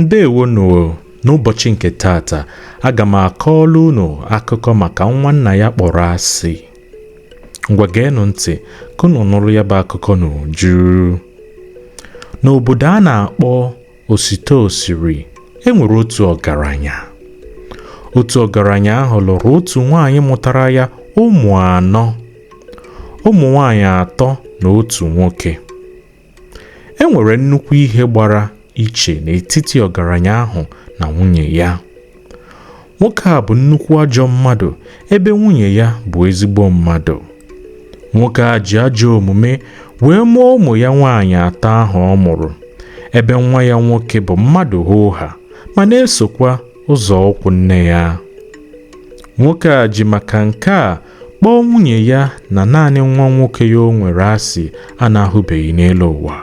ndewo nụ n'ụbọchị nke taata aga m akọọla unu akụkọ maka nwa nna ya kpọrọ asị ngwa geenụ ntị ka unu nụrụ ya bụ akụkọ n'uju n'obodo a na-akpọ osite osiri e nwere otu ọgaranya otu ọgaranya ahụ lụrụ otu nwaanyị mụtara ya ụmụ anọ ụmụ nwaanyị atọ na otu nwoke e nwere nnukwu ihe gbara iche n'etiti ọgaranya ahụ na nwunye ya nwoke a bụ nnukwu ajọ mmadụ ebe nwunye ya bụ ezigbo mmadụ nwoke a ji ajọ omume wee mụọ ụmụ ya nwaanyị atọ ahụ ọ mụrụ ebe nwa ya nwoke bụ mmadụ hoo haa ma na-esokwa ụzọ ụkwụ nne ya nwoke a ji maka nke a kpọọ nwunye ya na naanị nwa nwoke ya o nwere asị a na-ahụbeghị n'elu ụwa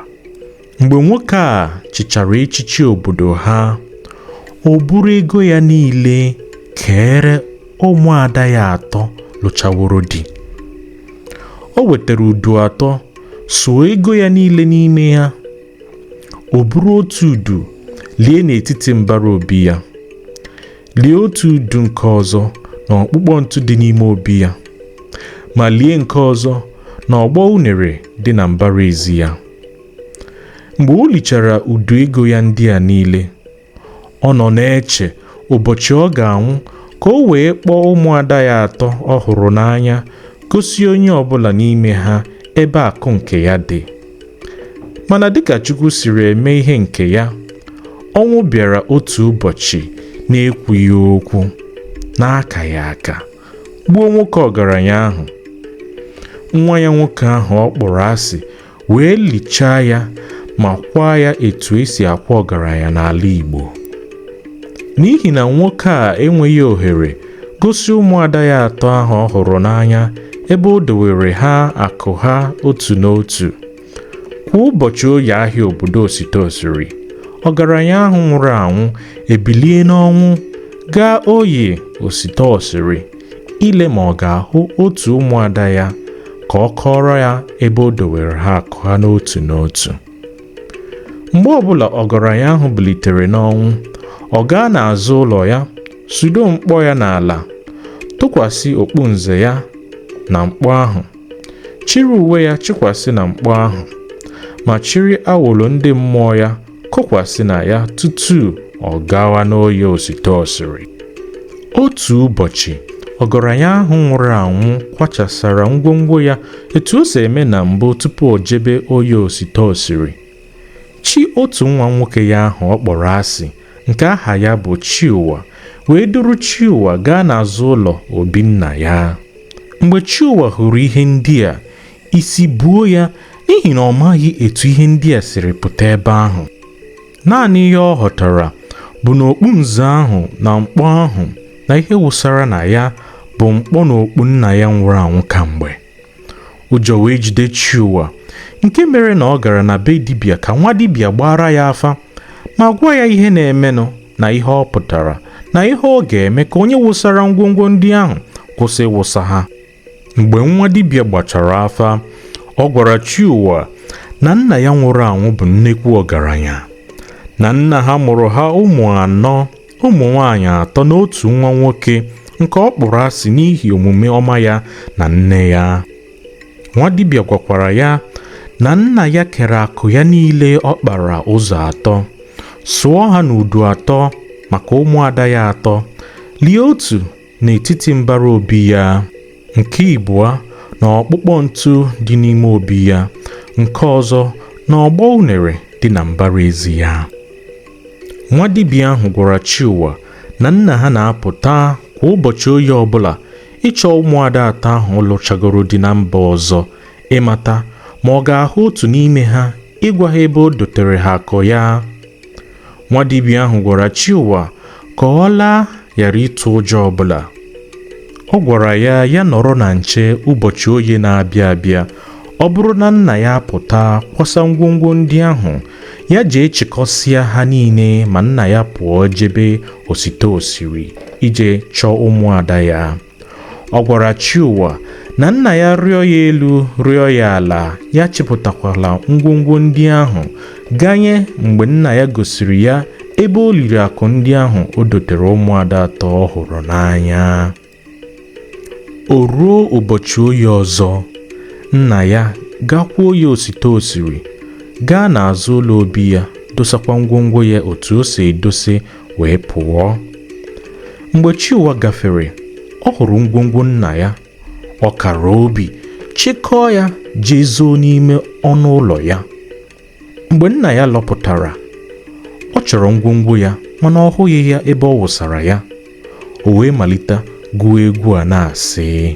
mgbe nwoke a chịchara echichi obodo ha o buru ego ya niile keere ụmụada ya atọ lụchaworo di o wetara udu atọ suo ego ya niile n'ime ya o buru otu udu lie n'etiti mbara obi ya lie otu udu nke ọzọ na ọkpụkpọ ntụ dị n'ime obi ya ma lie nke ọzọ na ọgbọ unere dị na mbara ezi ya mgbe o lichara udu ego ya ndị a niile ọ nọ na-eche ụbọchị ọ ga-anwụ ka o wee kpọọ ụmụada ya atọ ọ hụrụ n'anya gosi onye ọbụla n'ime ha ebe akụ nke ya dị mana dịka Chukwu siri eme ihe nke ya ọnwụ bịara otu ụbọchị na-ekwughị okwu na-akaghị aka gbuo nwoke ọgaranya ahụ nwa ya nwoke ahụ ọ kpọrọ asị wee lichaa ya ma kwaa ya etu e si akwa ọgaranya n'ala Igbo n'ihi na nwoke a enweghị ohere gosi ụmụada ya atọ ahụ ọ hụrụ n'anya ebe o dowere ha akụ ha otu n'otu kwa ụbọchị oye ahịa obodo osite osiri ọgaranya ahụ nwụrụ anwụ ebilie n'ọnwụ gaa oye osite osiri ile ma ọ ga-ahụ otu ụmụada ya ka ọ kọọrọ ya ebe o dowere ha akụ ha n'otu n'otu mgbe ọbụla ọgaranya ahụ bilitere n'ọnwụ ọ gaa n'azụ ụlọ ya sudo mkpọ ya n'ala tụkwasị okpu nze ya na mkpọ ahụ chịrị uwe ya chịkwasị na mkpọ ahụ ma chịrị awọlọ ndị mmụọ ya kokwasị na ya tutu ọ gawa n'oye osite osiri otu ụbọchị ọgaranya ahụ nwụrụ anwụ kwachasara ngwongwo ya etu o si eme na mbụ tupu o jebe oye osite osiri chi otu nwa nwoke ya ahụ ọ kpọrọ asị nke aha ya bụ chiụwa wee duru chiụwa gaa n'azụ ụlọ obi nna ya mgbe chiụwa hụrụ ihe ndị a isi buo ya n'ihi na ọ maghị etu ihe ndị a siri pụta ebe ahụ Naanị ihe ọ ghọtara bụ na okpu nze ahụ na mkpọ ahụ na ihe wụsara na ya bụ mkpọ na okpu nna ya nwụrụ anwụ kamgbe. Ụjọ wee jide Chiuwa nke mere na ọ gara na be dibịa ka nwa dibịa gbaara ya afa ma gwa ya ihe na-emenụ na ihe ọ pụtara na ihe ọ ga-eme ka onye wụsara ngwongwo ndị ahụ kwụsị ịwụsa ha. mgbe nwa dibịa gbachara afa ọ gwara Chiụwa na nna ya nwụrụ anwụ bụ nnekwu ọgaranya na nna ha mụrụ ha ụmụ anọ ụmụ nwaanyị atọ na otu nwa nwoke nke ọ kpọrọ asị n'ihi omume ọma ya na nne ya nwa dibịa gwakwara ya na nna ya kere akụ ya niile ọ kpara ụzọ atọ sụọ ha n'udu atọ maka ụmụada ya atọ lie otu n'etiti mbara obi ya nke ịbụa na ọkpụkpọ ntụ dị n'ime obi ya nke ọzọ na ọgbọ unere dị na mbara ezi ya nwa dibịa ahụ gwara Chiụwa na nna ha na-apụta kwa ụbọchị oye ọbụla ịchọ ụmụada atọ ahụ lụchagoro di na mba ọzọ ịmata ma ọ ga-ahụ otu n'ime ha ịgwa ha ebe o dotere ha akụ ya nwa dibịa ahụ gwara chiụwa ka ọ laa ghara ịtụ ụjọ ọbụla ọ gwara ya ya nọrọ na nche ụbọchị oye na-abịa abịa ọ bụrụ na nna ya pụta kwasa ngwongwo ndị ahụ ya jee chịkọsịa ha niile ma nna ya pụọ jebe osite osiri ije chọọ ụmụada ya ọ gwara chiụwa na nna ya rịọ ya elu rịọ ya ala ya chịpụtakwala ngwongwo ndị ahụ ganye mgbe nna ya gosiri ya ebe o liri akụ ndị ahụ o dotere ụmụada atọ ọ hụrụ n'anya o ruo ụbọchị oye ọzọ nna ya gakwa oye osite osiri gaa n'azụ ụlọ obi ya dosakwa ngwongwo ya otu o si edosi wee pụọ mgbe chiụwa gafere ọ hụrụ ngwongwo nna ya ọ kara obi chịkọọ ya jee zoo n'ime ọnụ ụlọ ya mgbe nna ya lọpụtara ọ chọrọ ngwongwo ya mana ọ hụghị ya ebe ọ wụsara ya o wee malite gụwa egwu a na-asị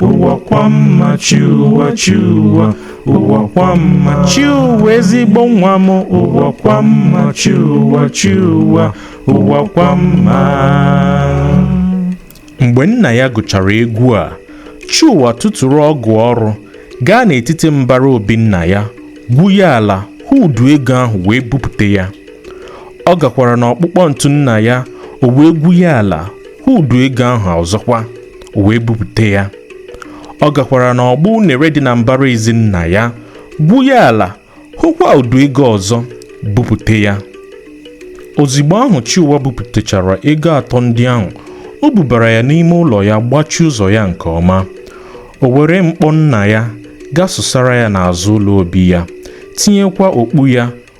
ụwa kwa mma chiụwa chiụwa ụwa kwa mma chiụwa ezigbo nwa m ụwa kwa mma chiụwa chiụwa ụwa kwa mma mgbe nna ya gụchara egwu a chiụwa tụtụrụ ọgụ ọrụ gaa n'etiti mbara obi nna ya gwu ya ala hụ udu ego ahụ wee bupụta ya ọ gakwara n'ọkpụkpọ ntu nna ya o wee gwu ya ala hụ udu ego ahụ ọzọkwa o wee bupụta ya ọ gakwara n'ọgbọ unere dị na mbara ezi nna ya gwu ya ala hụkwa udu ego ọzọ bupụta ya ozigbo ahụ Chiụwa bupụtachara ego atọ ndị ahụ o bubara ya n'ime ụlọ ya gbachie ụzọ ya nke ọma o were mkpọ nna ya gasụsara ya n'azụ ụlọ obi ya tinyekwa okpu ya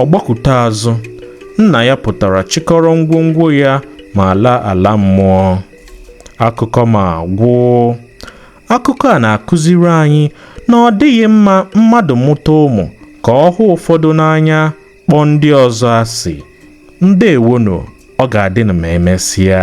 Ọ gbakụta azụ, nna ya pụtara chịkọrọ ngwongwo ya ma laa ala mmụọ. Akụkọ m agwụ. Akụkọ a na-akụziri anyị na ọ dịghị mma mmadụ mụta ụmụ ka ọ hụ ụfọdụ n'anya kpọọ ndị ọzọ asị. Ndewonụ, ọ ga-adịnụ ma emesịa.